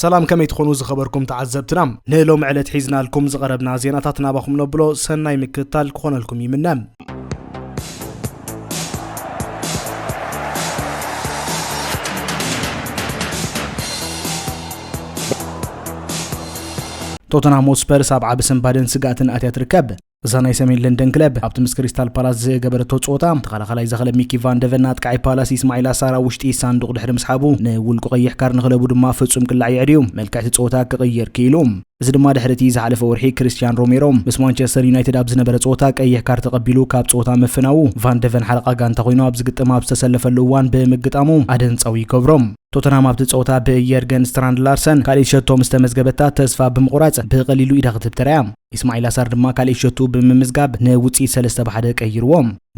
ሰላም ከመይ ትኾኑ ዝኸበርኩም ተዓዘብትና ንሎሚ ዕለት ሒዝናልኩም ዝቐረብና ዜናታት ናባኹም ነብሎ ሰናይ ምክትታል ክኾነልኩም ይምነ ቶተንሃም ሆትስፐርስ ኣብ ዓቢ ስንባደን ስግኣትን ኣትያ ትርከብ እዛ ናይ ሰሜን ለንደን ክለብ ኣብቲ ምስ ክሪስታል ፓላስ ዝገበረቶ ፀወታ ተኸላኻላይ ዘኸለብ ሚኪ ቫንደቨን ኣጥቃዒ ፓላስ ኢስማዒል ኣሳራ ውሽጢ ሳንዱቕ ድሕሪ ምስሓቡ ንውልቁ ቀይሕ ካር ንክለቡ ድማ ፍጹም ቅላዕ የዕድዩ መልክዕቲ ፀወታ ክቕይር ክኢሉ እዚ ድማ ድሕሪ እቲ ዝሓለፈ ወርሒ ክሪስትያን ሮሜሮ ምስ ማንቸስተር ዩናይትድ ኣብ ዝነበረ ጸወታ ቀይሕ ካርድ ተቐቢሉ ካብ ጸወታ ምፍናዉ ቫን ደቨን ሓለቓ ጋንታ ኮይኑ ኣብ ዝግጥም ኣብ ዝተሰለፈሉ እዋን ብምግጣሙ ኣደንጻዊ ይገብሮ። ቶተንሃም ኣብቲ ጸወታ ብየርገን ስትራንድ ላርሰን ካልኢት ሸቶ ምስ ተመዝገበታ ተስፋ ብምቑራጽ ብቐሊሉ ኢዳ ክትህብ ተራእያ። ኢስማዒል ኣሳር ድማ ካልኢት ሸትኡ ብምምዝጋብ ንውጽኢት ሰለስተ ብ ሓደ ቀይርዎ።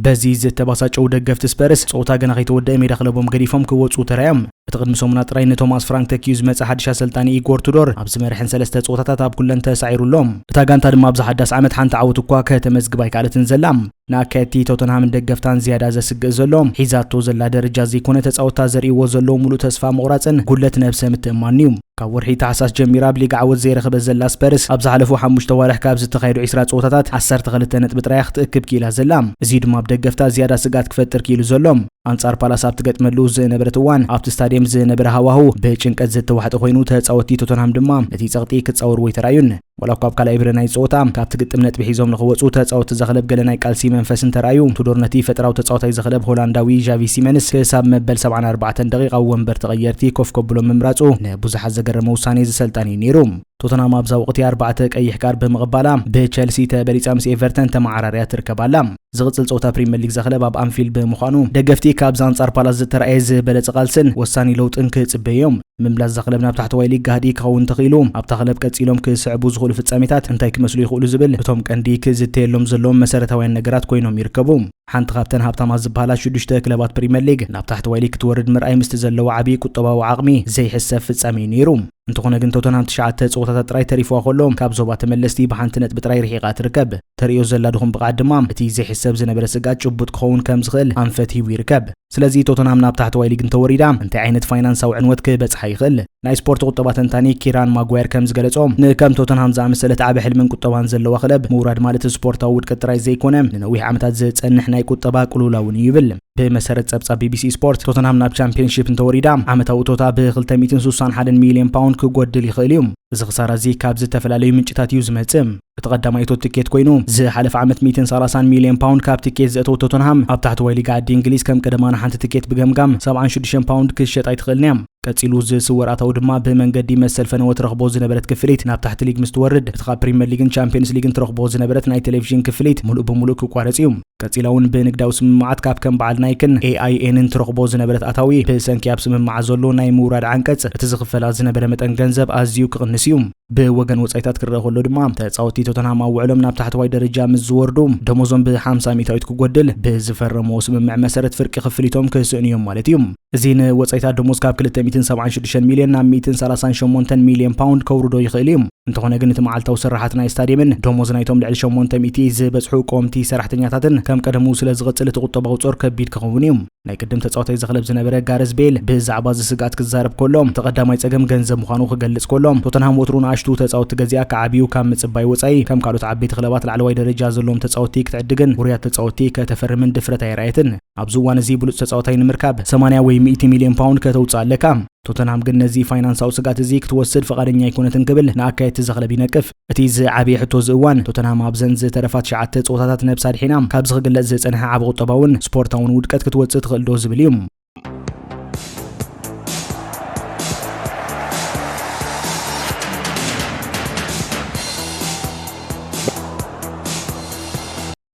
በዚ ዝተባሳጨው ደገፍቲ ስፐርስ ጸወታ ገና ከይተወደአ ሜዳ ክለቦም ገዲፎም ክወጹ ተራዮም። እቲ ቅድሚ ሰሙና ጥራይ ንቶማስ ፍራንክ ተኪኡ ዝመጸ ሓድሽ ኣሰልጣኒ ኢጎር ቱዶር ኣብዚ መርሕን ሰለስተ ጸወታታት ኣብ ኩለን ተሳዒሩ ኣሎ። እታ ጋንታ ድማ ኣብዚ ሓዳስ ዓመት ሓንቲ ዓወት እኳ ከተመዝግብ ኣይከኣለትን ዘላ። ንኣካየድቲ ቶተንሃምን ደገፍታን ዝያዳ ዘስግእ ዘሎ ሒዛቶ ዘላ ደረጃ ዘይኮነ ተጻወትታ ዘርእይዎ ዘለዉ ምሉእ ተስፋ ምቑራጽን ጉድለት ነብሰ ምትእምማንን'ዩ። ካብ ወርሒ ታሕሳስ ጀሚራ ኣብ ሊግ ዓወት ዘይረኸበት ዘላ ስፐርስ፣ ኣብ ዝሓለፉ ሓሙሽተ ኣዋርሕ ካብ ዝተኻየዱ ዕስራ ጸወታታት ዓሰርተ ክልተ ነጥቢ ጥራይ እያ ክትእክብ ክኢላ ዘላ። እዙይ ድማ ኣብ ደገፍታ ዝያዳ ስግኣት ክፈጥር ክኢሉ ዘሎ። ኣንጻር ፓላስ ኣብ ትገጥመሉ ዝነበረት እዋን፣ ኣብቲ ስታድየም ዝነበረ ሃዋህው ብጭንቀት ዝተዋሕጠ ኮይኑ፣ ተጻወትቲ ቶተንሃም ድማ ነቲ ጸቕጢ ክጻወርዎ ኣይተራእዩን። ዋላ እኳ ኣብ ካልኣይ ብረ ናይዚ ጸወታ ካብቲ ግጥም ነጥቢ ሒዞም ንኽወጹ ተጻወትቲ እዛ ክለብ ገለ ናይ ቃልሲ መንፈስ እንተርኣዩ፣ ቱዶር ነቲ ፈጠራዊ ተጻዋታይ እዚ ክለብ ሆላንዳዊ ዣቪ ሲመንስ ክሳብ መበል ሰብዓን ኣርባዕተን ደቒቕ ኣብ ወንበር ተቐየርቲ ኮፍ ከብሎ ምምራጹ ንብዙሓት ዘገረመ ውሳኔ እዚ ሰልጣን እዩ ነይሩ። ቶተንሃም ኣብዛ ወቕቲ ኣርባዕተ ቀይሕ ካርድ ብምቕባላ ብቸልሲ ተበሊጻ ምስ ኤቨርተን ተመዓራርያ ትርከብ ኣላ። ዝቕጽል ጸወታ ፕሪመር ሊግ ዘክለብ ኣብ ኣንፊልድ ብምዃኑ ደገፍቲ ካብዚ ኣንጻር ፓላስ ዝተራእየ ዝበለጸ ቃልስን ወሳኒ ለውጥን ክጽበዩ እዮም። ምምላስ ዘክለብ ናብ ታሕተዋይ ሊግ ጋህዲ ክኸውን እንተኽኢሉ ኣብታ ክለብ ቀጺሎም ክስዕቡ ዝኽእሉ ፍጻሜታት እንታይ ክመስሉ ይኽእሉ ዝብል እቶም ቀንዲ ክዝተየሎም ዘለዎም መሰረታውያን ነገራት ኮይኖም ይርከቡ። ሓንቲ ካብተን ሃብታማት ዝበሃላ ሽዱሽተ ክለባት ፕሪመር ሊግ ናብ ታሕተዋይ ሊግ ክትወርድ ምርኣይ ምስቲ ዘለዎ ዓቢ ቁጠባዊ ዓቕሚ ዘይሕሰብ ፍጻሜ እዩ ነይሩ። እንተኾነ ግን ቶተንሃም ትሽዓተ ፀወታታት ጥራይ ተሪፍዋ ከሎ ካብ ዞባ ተመለስቲ ብሓንቲ ነጥቢ ጥራይ ርሒቓ ትርከብ። ተርእዮ ዘላ ድኹም ብቕዓት ድማ እቲ ዘይሕሰብ ዝነበረ ስግኣት ጭቡጥ ክኸውን ከም ዝኽእል ኣንፈት ሂቡ ይርከብ። ስለዚ ቶተንሃም ናብ ታሕተዋይ ሊግ እንተወሪዳ እንታይ ዓይነት ፋይናንሳዊ ዕንወት ክበጽሓ ይኽእል? ናይ ስፖርት ቁጠባ ተንታኒ ኪራን ማጓየር ከም ዝገለጾ ንከም ቶተንሃም ዝኣመሰለት ዓቢ ሕልምን ቁጠባን ዘለዋ ክለብ ምውራድ ማለት ስፖርታዊ ውድቀት ጥራይ ዘይኮነ ንነዊሕ ዓመታት ዝጸንሕ ናይ ቁጠባ ቅልውላውን እዩ ይብል። ብመሰረት ጸብጻብ ቢቢሲ ስፖርት ቶተንሃም ናብ ቻምፒየንሺፕ እንተወሪዳ ዓመታዊ እቶታ ብ261 ሚልዮን ፓውንድ ክጎድል ይኽእል እዩ እዚ ክሳራ እዚ ካብ ዝተፈላለዩ ምንጭታት እዩ ዝመጽእ እቲ ቀዳማይ እቶት ትኬት ኮይኑ ዝሓለፈ ዓመት 130 ሚልዮን ፓውንድ ካብ ትኬት ዘእተወ ቶተንሃም ኣብ ታሕተዋይ ሊጋ ዓዲ እንግሊዝ ከም ቀደማና ሓንቲ ትኬት ብገምጋም 76 ፓውንድ ክሸጣ ኣይትኽእልን እያ ቀጺሉ ዝስወር ኣታዊ ድማ ብመንገዲ መሰል ፈነወ ትረኽቦ ዝነበረት ክፍሊት ናብ ታሕቲ ሊግ ምስ ትወርድ እቲ ካብ ፕሪምየር ሊግን ቻምፒየንስ ሊግን ትረኽቦ ዝነበረት ናይ ቴሌቭዥን ክፍሊት ምሉእ ብምሉእ ክቋረጽ እዩ ቀጺላ እውን ብንግዳዊ ስምምዓት ካብ ከም በዓል ናይክን ኤኣይኤንን ትረኽቦ ዝነበረት ኣታዊ ብሰንኪ ኣብ ስምምዓት ዘሎ ናይ ምውራድ ዓንቀጽ እቲ ዝኽፈላ ዝነበረ መጠን ገንዘብ ኣዝዩ ክቕንስ እዩ። ብወገን ወጻኢታት ክረአ ከሎ ድማ ተጻወትቲ ቶተንሃም ኣብ ውዕሎም ናብ ታሕተዋይ ደረጃ ምስ ዝወርዱ ደሞዞም ብ50 ሚእታዊት ክጎድል ብዝፈረምዎ ስምምዕ መሰረት ፍርቂ ክፍሊቶም ክስእኑ እዮም ማለት እዩ። እዚ ንወጻኢታት ደሞዝ ካብ ክልተ ሚእትን ሰብዓን ሽዱሽተን ሚልዮን ናብ ሚእትን ሰላሳን ሸሞንተን ሚልዮን ፓውንድ ከውርዶ ይኽእል እዩ። እንተኾነ ግን እቲ መዓልታዊ ስርሓት ናይ ስታድየምን ደሞዝ ናይቶም ልዕሊ ሸሞንተ ሚእቲ ዝበጽሑ ቆምቲ ሰራሕተኛታትን ከም ቀደሙ ስለ ዝቕጽል እቲ ቁጠባዊ ጾር ከቢድ ክኸውን እዩ። ናይ ቅድም ተጻዋታይ እዚ ክለብ ዝነበረ ጋረዝ ቤል ብዛዕባ እዚ ስግኣት ክዛረብ ከሎ እቲ ቀዳማይ ጸገም ገንዘብ ምዃኑ ክገልጽ ከሎ ቶተንሃም ወትሩ ንኣሽቱ ተጻወትቲ ገዚኣ ክዓብዩ ካብ ምጽባይ ወጻኢ ከም ካልኦት ዓበይቲ ክለባት ላዕለዋይ ደረጃ ዘለዎም ተጻወትቲ ክትዕድግን ውሩያት ተጻወትቲ ከተፈርምን ድፍረት ኣየርኣየትን። ኣብዚ እዋን እዚ ብሉጽ ተጻዋታይ ንምርካብ ሰማንያ ወይ ሚእቲ ሚልዮን ፓውንድ ከተውጽእ ኣለካ። ቶተንሃም ግን ነዚ ፋይናንሳዊ ስግኣት እዚ ክትወስድ ፍቓደኛ ኣይኮነትን ክብል ንኣካየድቲ እዚ ክለብ ይነቅፍ። እቲ ዝዓበየ ሕቶ እዚ እዋን፣ ቶተንሃም ኣብዘን ዝተረፋ ትሽዓተ ጸወታታት ነብሳ ኣድሒና ካብዚ ክግለጽ ዝጸንሐ ዓቢ ቁጠባውን ስፖርታውን ውድቀት ክትወጽእ ትኽእልዶ ዝብል እዩ።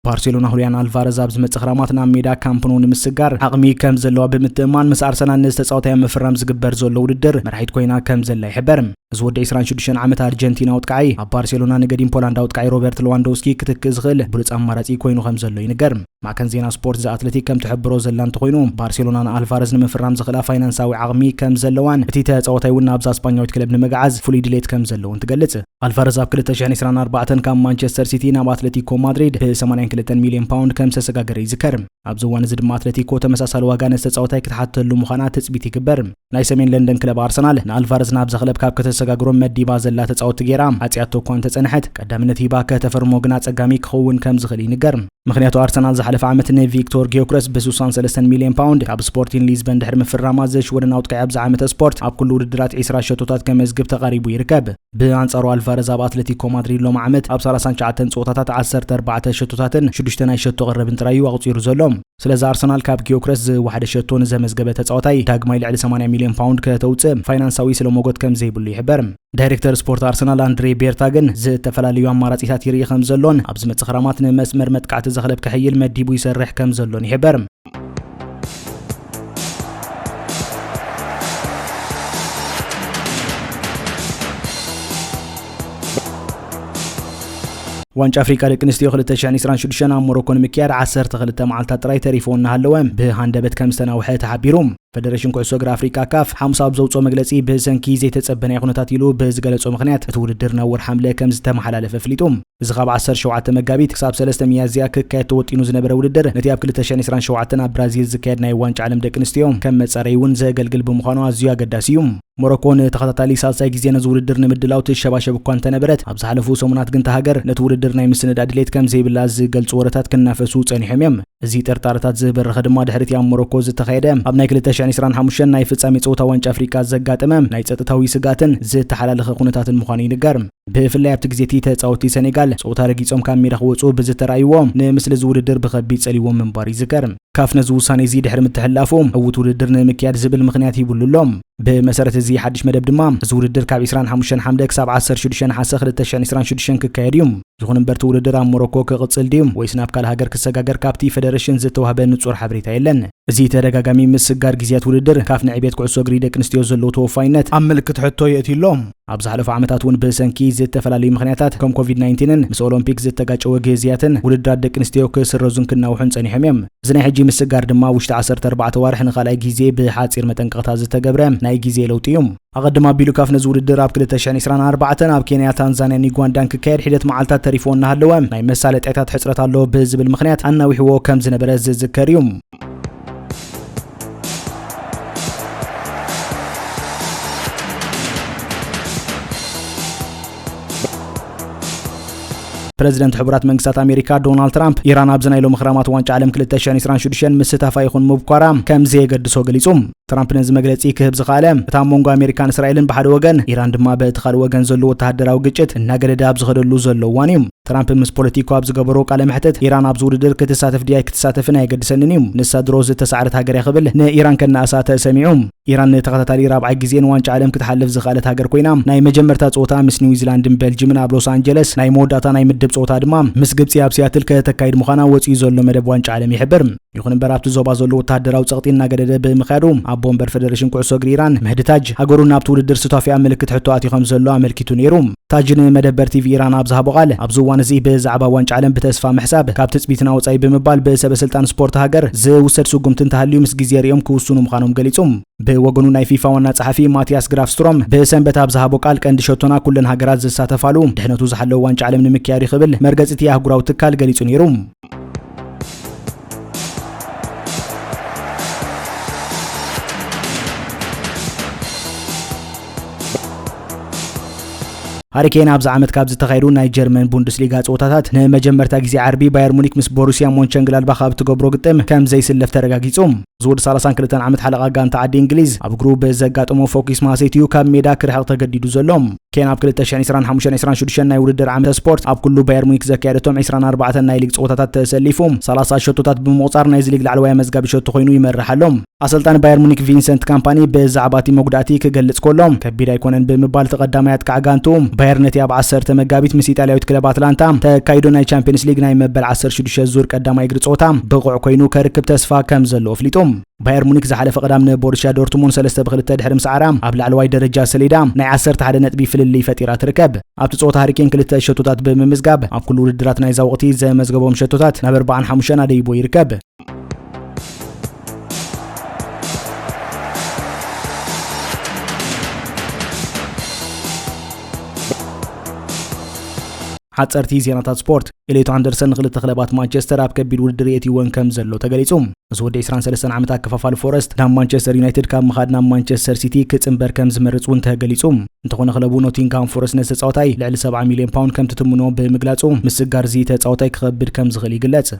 ባርሴሎና ሁሊያን ኣልቫረዝ ኣብ ዝመጽእ ክራማት ናብ ሜዳ ካምፕኖ ንምስጋር ዓቕሚ ከም ዘለዋ ብምትእማን ምስ ኣርሰናል ነዚ ተጻወታይ ምፍራም ዝግበር ዘሎ ውድድር መራሒት ኮይና ከም ዘላ ይሕበር እዚ ወዲ 26 ዓመት ኣርጀንቲና ኣውጥቃዒ ኣብ ባርሴሎና ንገዲም ፖላንድ ኣውጥቃዒ ሮበርት ለዋንዶውስኪ ክትክእ ዝኽእል ብሉፅ ኣማራጺ ኮይኑ ከም ዘሎ ይንገር ማዕከን ዜና ስፖርት ዘኣትለቲክ ከም ትሕብሮ ዘላ እንተኮይኑ ባርሴሎና ንኣልቫረዝ ንምፍራም ዝኽእላ ፋይናንሳዊ ዓቕሚ ከም ዘለዋን እቲ ተጻወታይ እውን ናብዛ ስጳኛዊት ክለብ ንምግዓዝ ፍሉይ ድሌት ከም ዘለዎን ትገልጽ ኣልቫረዝ ኣብ 2024 ካብ ማንቸስተር ሲቲ ናብ ኣትለቲኮ ማድሪድ ብ82 ሚልዮን ፓውንድ ከም ዝተሰጋገረ ይዝከር። ኣብዚ እዋን እዚ ድማ ኣትለቲኮ ተመሳሳሊ ዋጋ ነቲ ተጻዋታይ ክትሓተሉ ምዃና ትጽቢት ይግበር። ናይ ሰሜን ለንደን ክለብ ኣርሰናል ንኣልቫረዝ ናብዛ ክለብ ካብ ከተሰጋግሮም መዲባ ዘላ ተጻወቲ ገይራ ዓጽያቶ እኳ እንተጸንሐት ቀዳምነት ሂባ ከተፈርሞ ግን ኣጸጋሚ ክኸውን ከም ዝኽእል ይንገር። ምኽንያቱ ኣርሰናል ዝሓለፈ ዓመት ንቪክቶር ጊዮክረስ ብስሳን ሰለስተን ሚልዮን ፓውንድ ካብ ስፖርቲን ሊዝበን ድሕሪ ምፍራማ ዘሽወደን ኣውትቃዒ ኣብዚ ዓመተ ስፖርት ኣብ ኩሉ ውድድራት ዒስራ ሸቶታት ከመዝግብ ተቓሪቡ ይርከብ። ብኣንጻሩ ኣልቫረዝ ኣብ ኣትለቲኮ ማድሪድ ሎሚ ዓመት ኣብ ሰላሳን ትሽዓተን ጸወታታት ዓሰርተ ኣርባዕተ ሸቶታትን ሽዱሽተ ናይ ሸቶ ቅርብን ጥራይ እዩ ኣቑጺሩ ዘሎ። ስለዚ ኣርሰናል ካብ ጊዮክረስ ዝወሓደ ሸቶ ንዘመዝገበ ተጻዋታይ ዳግማይ ልዕሊ ሰማንያ ሚልዮን ፓውንድ ከተውጽእ ፋይናንሳዊ ስለ ሞጎት ከም ዘይብሉ ይሕበር። ዳይሬክተር ስፖርት ኣርሰናል ኣንድሬ ቤርታ ግን ዝተፈላለዩ ኣማራፂታት ይርኢ ከም ዘሎን ኣብ ዝመፅእ ክራማት ንመስመር መጥቃዕቲ ዘኽለብ ክሕይል መዲቡ ይሰርሕ ከም ዘሎን ይሕበር ዋንጫ ኣፍሪቃ ደቂ ኣንስትዮ 226 ኣብ ሞሮኮ ንምክያድ 12 መዓልታት ጥራይ ተሪፎ እናሃለወ ብሃንደበት ከም ዝተናውሐ ተሓቢሩ ፈደረሽን ኩዕሶ እግሪ ኣፍሪቃ፣ ካፍ፣ ሓሙስ ኣብ ዘውጽኦ መግለጺ፣ ብሰንኪ ዘይተጸበ ናይ ኩነታት ኢሉ ብዝገለጾ ምኽንያት፣ እቲ ውድድር ናብ ወርሒ ሓምለ ከምዝተመሓላለፈ ኣፍሊጡ። እዚ ካብ ዓሰርተ ሸውዓተ መጋቢት ክሳብ ሰለስተ ሚያዝያ ክካየድ ተወጢኑ ዝነበረ ውድድር፣ ነቲ ኣብ ክልተ ሽሕን ዕስራን ሸውዓተን ኣብ ብራዚል ዝካየድ ናይ ዋንጫ ዓለም ደቂ ኣንስትዮ ከም መጻረይ'ውን ዘገልግል ብምዃኑ ኣዝዩ ኣገዳሲ እዩ። ሞሮኮ ንተኸታታሊ ሳልሳይ ግዜ ነዚ ውድድር ንምድላው ትሸባሸብ እኳ እንተነበረት፣ ኣብ ዝሓለፉ ሰሙናት ግን እታ ሃገር ነቲ ውድድር ናይ ምስንዳእ ድሌት ከምዘይብላ ዝገልጹ ወረታት ክናፈሱ ጸኒሖም እዮም። እዚ ጥርጣረታት ዝበረኸ ድማ ድሕሪ'ቲ ኣብ ሞሮኮ ዝተኻየደ ኣብ ናይ ክልተ ሽሕን ዕስራን ሓሙሽተን ናይ ፍጻሜ ጸወታ ዋንጫ ኣፍሪቃ ዘጋጠመ ናይ ጸጥታዊ ስግኣትን ዝተሓላለኸ ኩነታትን ምዃኑ ይንገር። ብፍላይ ኣብቲ ግዜ'ቲ ተጻወትቲ ሰኔጋል ጸወታ ረጊጾም ካብ ሜዳ ክወጽኡ ብዝተራእይዎ ንምስሊ'ዚ ውድድር ብኸቢድ ጸልይዎም ምንባሩ ይዝከር። ካፍ ነዚ ውሳኔ'ዚ ድሕሪ ምትሕልላፉ ዕዉት ውድድር ንምክያድ ዝብል ምኽንያት ሂብሉ ኣሎ። ብመሰረት እዚ ሓድሽ መደብ ድማ እዚ ውድድር ካብ ዕስራን ሓሙሽተን ሓምለ ክሳብ ዓሰርተ ሽዱሽተ ነሓሰ ክልተ ሽሕን ዕስራን ሽዱሽተን ክካየድ'ዩ። ይኹን እምበር እቲ ውድድር ኣብ ሞሮኮ ክቕጽል ድዩ ወይስ ናብ ካልእ ሃገር ክሰጋገር ካብቲ ፈደረሽን ዝተዋህበ ንጹር ሓበሬታ የለን። እዚ ተደጋጋሚ ምስጋር ግዝያት ውድድር፣ ካፍ ንዕብየት ኩዕሶ እግሪ ደቂ ኣንስትዮ ዘለዎ ተወፋይነት ኣብ ምልክት ሕቶ የእትዩ ኣሎ። ኣብ ዝሓለፉ ዓመታት እውን ብሰንኪ ዝተፈላለዩ ምኽንያታት፣ ከም ኮቪድ ናይንቲንን ምስ ኦሎምፒክ ዝተጋጨወ ግዝያትን፣ ውድድራት ደቂ ኣንስትዮ ክስረዙን ክናውሑን ጸኒሖም እዮም። እዚ ናይ ሕጂ ምስጋር ድማ ውሽጢ ዓሰርተ ኣርባዕተ ኣዋርሕ ንኻልኣይ ግዜ ብሓጺር መጠንቀቕታ ዝተገብረ ናይ ግዜ ለውጢ እዩ። ኣቐድም ኣቢሉ ካፍ ነዚ ውድድር ኣብ ክልተ ሽሕን ዕስራን ኣርባዕተን ኣብ ኬንያ፣ ታንዛንያን ዩጋንዳን ክካየድ ሒደት መዓልታት ተሪፍዎ እናሃለወ ናይ መሳለጥያታት ሕጽረት ኣሎ ብዝብል ምኽንያት ኣናዊሕዎ ከም ዝነበረ ዝዝከር እዩ። ፕረዚደንት ሕቡራት መንግስታት ኣሜሪካ ዶናልድ ትራምፕ ኢራን ኣብዚ ናይ ሎሚ ክራማት ዋንጫ ዓለም 2026 ምስታፋ ይኹን ምብኳራ ከም ዘየገድሶ ገሊጹ። ትራምፕ ነዚ መግለጺ ክህብ ዝኸኣለ እታ መንጎ ኣሜሪካን እስራኤልን ብሓደ ወገን ኢራን ድማ በቲ ካልእ ወገን ዘሎ ወተሃደራዊ ግጭት እናገደደ ኣብ ዝኸደሉ ዘሎ እዋን እዩ። ትራምፕ ምስ ፖለቲኮ ኣብ ዝገበሮ ቃለ መሕትት ኢራን ኣብዚ ውድድር ክትሳተፍ ድያ ኣይክትሳተፍን ኣየገድሰንን እዩ፣ ንሳ ድሮ ዝተሳዕረት ሃገር እያ ክብል ንኢራን ከነኣሳ ተሰሚዑ። ኢራን ንተኸታታሊ ራብዓይ ግዜ ንዋንጫ ዓለም ክትሓልፍ ዝኸኣለት ሃገር ኮይና፣ ናይ መጀመርታ ጸወታ ምስ ኒውዚላንድን ቤልጅምን ኣብ ሎስ ኣንጀለስ፣ ናይ መወዳእታ ናይ ምድብ ጸወታ ድማ ምስ ግብጺ ኣብ ሲያትል ከተካይድ ምዃና ወጺኡ ዘሎ መደብ ዋንጫ ዓለም ይሕብር። ይኹን እምበር ኣብቲ ዞባ ዘሎ ወተሃደራዊ ጸቕጢ እናገደደ ብምኻዱ፣ ኣቦ ወንበር ፈደረሽን ኩዕሶ እግሪ ኢራን፣ መህዲ ታጅ፣ ሃገሩ ናብቲ ውድድር ሱታፌኣ ምልክት ሕቶ ኣትዩ ከምዘሎ ኣመልኪቱ ነይሩ። ታጅ ንመደበር ቲቪ ኢራን ኣብ ዝሃቦ ቃል፣ ኣብዚ እዋን እዚ ብዛዕባ ዋንጫ ዓለም ብተስፋ ምሕሳብ ካብ ትጽቢትና ወጻኢ ብምባል ብሰበስልጣን ስፖርት ሃገር ዝውሰድ ስጉምቲ እንተሃልዩ ምስ ግዜ ሪኦም ክውስኑ ምዃኖም ገሊጹ። ብወገኑ ናይ ፊፋ ዋና ጸሓፊ ማቲያስ ግራፍስትሮም ብሰንበት ኣብ ዝሃቦ ቃል ቀንዲ ሸቶና ኩለን ሃገራት ዝሳተፋሉ ድሕነቱ ዝሓለወ ዋንጫ ዓለም ንምክያድ'ዩ ክብል መርገጺ'ቲ ኣህጉራዊ ትካል ገሊጹ ነይሩ። ሃሪኬን ኣብዚ ዓመት ካብ ዝተኻየዱ ናይ ጀርመን ቡንደስሊጋ ፀወታታት ንመጀመርታ ግዜ ዓርቢ ባየር ሙኒክ ምስ ቦሩሲያ ሞንቸንግላድባኽ ኣብ እትገብሮ ግጥም ከም ዘይስለፍ ተረጋጊጹ ዝወዲ ሰላሳን ክልተን ዓመት ሓለቓ ጋንታ ዓዲ እንግሊዝ ኣብ እግሩ ብዘጋጠሞ ፎኪስ ማህሰይቲ እዩ ካብ ሜዳ ክርሕቕ ተገዲዱ ዘሎ። ኬን ኣብ 2025 26 ናይ ውድድር ዓመተ ስፖርት ኣብ ኩሉ ባየር ሙኒክ ዘካየደቶም 24 ናይ ሊግ ፀወታታት ተሰሊፉ 30 ሸቶታት ብምቑፃር ናይዚ ሊግ ላዕለዋይ መዝጋቢ ሸቶ ኮይኑ ይመርሕ ኣሎ። ኣሰልጣኒ ባየር ሙኒክ ቪንሰንት ካምፓኒ ብዛዕባ እቲ መጉዳእቲ ክገልጽ ከሎ ከቢድ ኣይኮነን ብምባል እቲ ቀዳማይ ኣጥቃዕ ጋንቱ ባየር ነቲ ኣብ 10 መጋቢት ምስ ኢጣልያዊት ክለብ ኣትላንታ ተካይዶ ናይ ቻምፒየንስ ሊግ ናይ መበል 16 ዙር ቀዳማይ እግሪ ጸወታ ብቑዕ ኮይኑ ከርክብ ተስፋ ከም ዘለዎ ኣፍሊጡ። ባየር ሙኒክ ዝሓለፈ ቀዳም ንቦሩስያ ዶርትሙን ሰለስተ ብክልተ ድሕሪ ምስዓራ ኣብ ላዕለዋይ ደረጃ ሰሌዳ ናይ ዓሰርተ ሓደ ነጥቢ ፍልልይ ፈጢራ ትርከብ። ኣብቲ ጸወታ ሃሪኬን ክልተ ሸቶታት ብምምዝጋብ ኣብ ኩሉ ውድድራት ናይዛ ወቕቲ ዘመዝገቦም ሸቶታት ናብ ኣርባዓን ሓሙሽተን ኣደይቦ ይርከብ። ሓጸርቲ ዜናታት ስፖርት ኤሌቶ ኣንደርሰን ንክልተ ክለባት ማንቸስተር ኣብ ከቢድ ውድድር የእትይወን ከም ዘሎ ተገሊጹ። ምስ ወዲ 23 ዓመት ኣከፋፋሊ ፎረስት ናብ ማንቸስተር ዩናይትድ ካብ ምኻድ ናብ ማንቸስተር ሲቲ ክጽንበር ከም ዝመርጽ እውን ተገሊጹ። እንተኾነ ክለቡ ኖቲንግሃም ፎረስት ነዚ ተጻዋታይ ልዕሊ 70 ሚልዮን ፓውንድ ከም ትትምኖ ብምግላጹ ምስጋር እዚ ተጻዋታይ ክኸብድ ከም ዝኽእል ይግለጽ።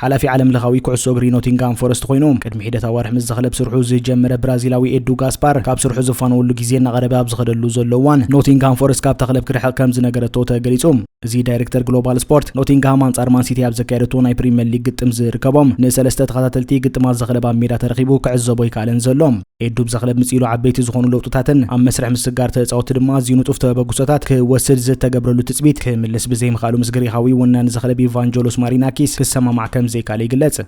ሓላፊ ዓለም ለኻዊ ኩዕሶ እግሪ ኖቲንጋም ፎረስት ኮይኑ ቅድሚ ሒደት ኣዋርሕ ምስ ዘኽለብ ስርሑ ዝጀመረ ብራዚላዊ ኤዱ ጋስፓር ካብ ስርሑ ዝፋነወሉ ግዜ እናቐረበ ኣብ ዝኸደሉ ዘሎ እዋን ኖቲንግሃም ፎረስት ካብታ ክለብ ክርሕቕ ከም ዝነገረቶ ተገሊጹ እዚ ዳይሬክተር ግሎባል ስፖርት ኖቲንግሃም ኣንጻር ማንሲቲ ኣብ ዘካየደቶ ናይ ፕሪምየር ሊግ ግጥም ዝርከቦም ንሰለስተ ተኸታተልቲ ግጥማት ዘኽለብ ኣብ ሜዳ ተረኺቡ ክዕዘቦ ኣይከኣለን ዘሎ ኤዱ ብዛ ክለብ ምጽኢሉ ዓበይቲ ዝኾኑ ለውጥታትን ኣብ መስርሕ ምስጋር ተጻወቲ ድማ ኣዝዩ ንጡፍ ተበግሶታት ክወስድ ዝተገብረሉ ትጽቢት ክምልስ ብዘይምኽኣሉ ምስ ግሪኻዊ ወናኒ ዘኽለብ ኢቫንጀሎስ ማሪናኪስ ክሰማማዕ ከም ዘይከኣለ ይግለጽ።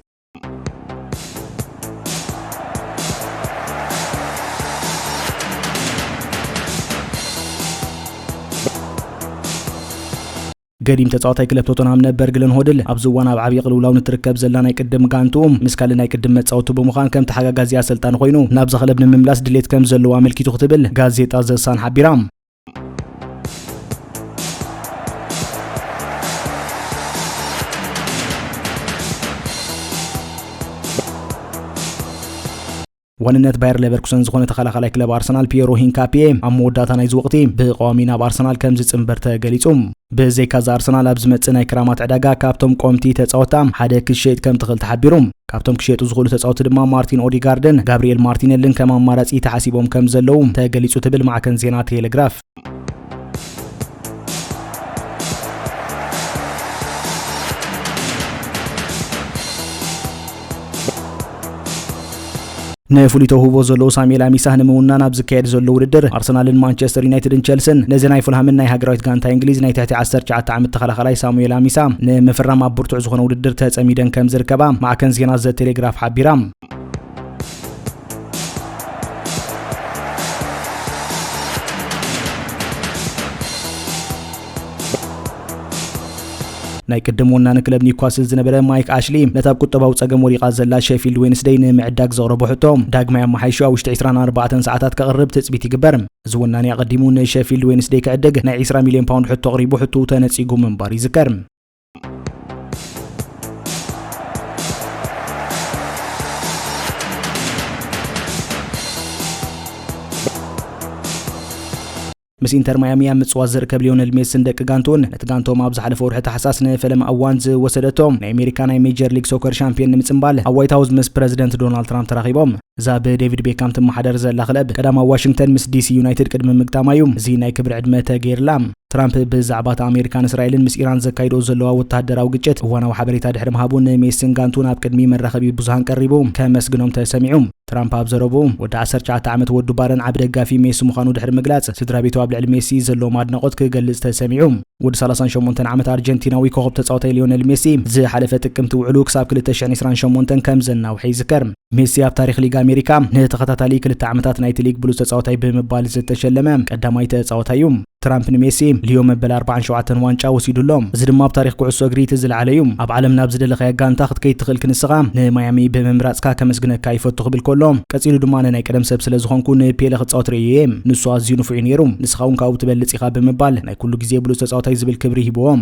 ገዲም ተጻዋታይ ክለብ ቶተንሃም ነበር ግለን ሆድል ኣብዚ እዋን ኣብ ዓብዪ ቅልውላው ንትርከብ ዘላ ናይ ቅድም ጋንትኡ ምስ ካልእ ናይ ቅድም መጻወቱ ብምዃን ከም ተሓጋጋዚ ኣሰልጣኒ ኮይኑ ናብዛ ክለብ ንምምላስ ድሌት ከም ዘለዎ ኣመልኪቱ ክትብል ጋዜጣ ዘሳን ሓቢራ ዋንነት ባየር ሌቨርኩሰን ዝኾነ ተኸላኻላይ ክለብ ኣርሰናል ፒየሮ ሂንካፒየ ኣብ መወዳእታ ናይዚ ወቕቲ ብቐዋሚ ናብ ኣርሰናል ከም ዝጽንበር ተገሊጹ ብዘይካዚ ኣርሰናል ኣብ ዝመጽእ ናይ ክራማት ዕዳጋ ካብቶም ቆምቲ ተጻወታ ሓደ ክሸይጥ ከም ትኽእል ተሓቢሩ። ካብቶም ክሸየጡ ዝኽእሉ ተጻወቲ ድማ ማርቲን ኦዲጋርድን ጋብሪኤል ማርቲነልን ከም ኣማራጺ ተሓሲቦም ከም ዘለዉ ተገሊጹ ትብል ማዕከን ዜና ቴሌግራፍ። ንፍሉይ ተውህቦ ዘለዎ ሳሙኤል ኣሚሳህ ንምውናን ኣብ ዝካየድ ዘሎ ውድድር ኣርሰናልን ማንቸስተር ዩናይትድን ቸልስን ነዚ ናይ ፉልሃምን ናይ ሃገራዊት ጋንታ እንግሊዝ ናይ ትሕቲ 19 ዓመት ተኸላኻላይ ሳሙኤል ኣሚሳ ንምፍራም ኣብ ብርቱዕ ዝኾነ ውድድር ተጸሚደን ከም ዝርከባ ማዕከን ዜና ዘ ቴሌግራፍ ሓቢራ። ናይ ቅድም ወናኒ ክለብ ኒውካስል ዝነበረ ማይክ ኣሽሊ ነታ ኣብ ቁጠባዊ ጸገም ወዲቓ ዘላ ሸፊልድ ዌንስደይ ንምዕዳግ ዘቕረቦ ሕቶ ዳግማይ ኣመሓይሹ ኣብ ውሽጢ ዕስራን ኣርባዕተን ሰዓታት ከቕርብ ትጽቢት ይግበር። እዚ ወናኒ ኣቐዲሙ ንሸፊልድ ዌንስደይ ክዕድግ ናይ ዕስራ ሚልዮን ፓውንድ ሕቶ ኣቕሪቡ ሕቶኡ ተነጺጉ ምንባሩ ይዝከር። ምስ ኢንተር ማያሚ ኣብ ምጽዋት ዝርከብ ሊዮነል ሜስን ደቂ ጋንቱን ነቲ ጋንቶም ኣብ ዝሓለፈ ወርሒ ታሕሳስ ንፈለማ እዋን ዝወሰደቶም ናይ ኣሜሪካ ናይ ሜጀር ሊግ ሶከር ሻምፒዮን ንምጽምባል ኣብ ዋይት ሃውስ ምስ ፕረዚደንት ዶናልድ ትራምፕ ተራኺቦም እዛ ብዴቪድ ቤካም ትመሓደር ዘላ ክለብ ቀዳማ ዋሽንግተን ምስ ዲሲ ዩናይትድ ቅድሚ ምግጣማ እዩ እዚ ናይ ክብሪ ዕድመ ተገይርላ። ትራምፕ ብዛዕባ እቲ ኣሜሪካን እስራኤልን ምስ ኢራን ዘካይዶ ዘለዋ ወተሃደራዊ ግጭት እዋናዊ ሓበሬታ ድሕሪ ምሃቡ ንሜስን ጋንቱ ናብ ቅድሚ መራኸቢ ብዙሃን ቀሪቡ ከመስግኖም ተሰሚዑ። ትራምፕ ኣብ ዘረብኡ ወዲ 19 ዓመት ወዱ ባረን ዓቢ ደጋፊ ሜሲ ምዃኑ ድሕሪ ምግላጽ ስድራ ቤቱ ኣብ ልዕሊ ሜሲ ዘለዎም ኣድናቖት ክገልጽ ተሰሚዑ። ወዲ 38 ዓመት ኣርጀንቲናዊ ኮኸብ ተጻዋታይ ሊዮነል ሜሲ ዝሓለፈ ጥቅምቲ ውዕሉ ክሳብ 2028 ከም ዘናውሐ ይዝከር። ሜሲ ኣብ ታሪኽ ሊግ ኣሜሪካ ንተኸታታሊ ክልተ ዓመታት ናይቲ ሊግ ብሉፅ ተፃወታይ ብምባል ዝተሸለመ ቀዳማይ ተፃወታይ እዩ። ትራምፕ ንሜሲ ልዮ መበል 47 ዋንጫ ወሲዱ ኣሎ። እዚ ድማ ኣብ ታሪኽ ኩዕሶ እግሪ እቲ ዝለዓለ እዩ። ኣብ ዓለም ናብ ዝደለኻዮ ጋንታ ክትከይድ ትኽእል ክንስኻ ንማያሚ ብምምራፅካ ከመስግነካ ይፈቱ ክብል ከሎ ቀፂሉ ድማ ኣነ ናይ ቀደም ሰብ ስለ ዝኾንኩ ንፔለ ክፃወት ርእየ እየ ንሱ ኣዝዩ ንፉዕ እዩ ነይሩ ንስኻ እውን ካብኡ ትበልፅ ኢኻ ብምባል ናይ ኩሉ ግዜ ብሉፅ ተፃወታይ ዝብል ክብሪ ሂብዎም።